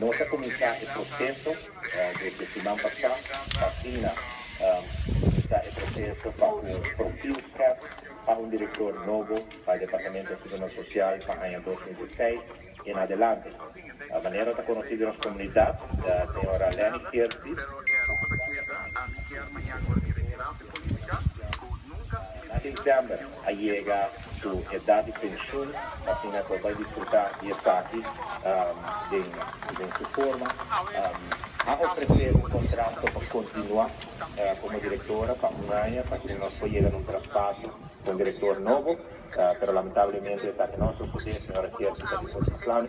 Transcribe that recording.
Nos a kuminsá e proseso desde siman pasá pa asina kuminsá e proseso pa ku Profielschap a un direktor nobo pa e Departamento di Seguridad Social pa aña dos mil diesiseis en adelante. Manera ta konosí den nos komunidat, señora Leni Kirsi, September a yega su edad di pensioen asina cu bay disfruta di esaki den su forma. A ofrece un contrato pa continua como directora pa un aña pa asina nos por yega na un traspaso cu un director nobo pero lamentablemente esaki no a sucede, señora Chercy ta di por su plan.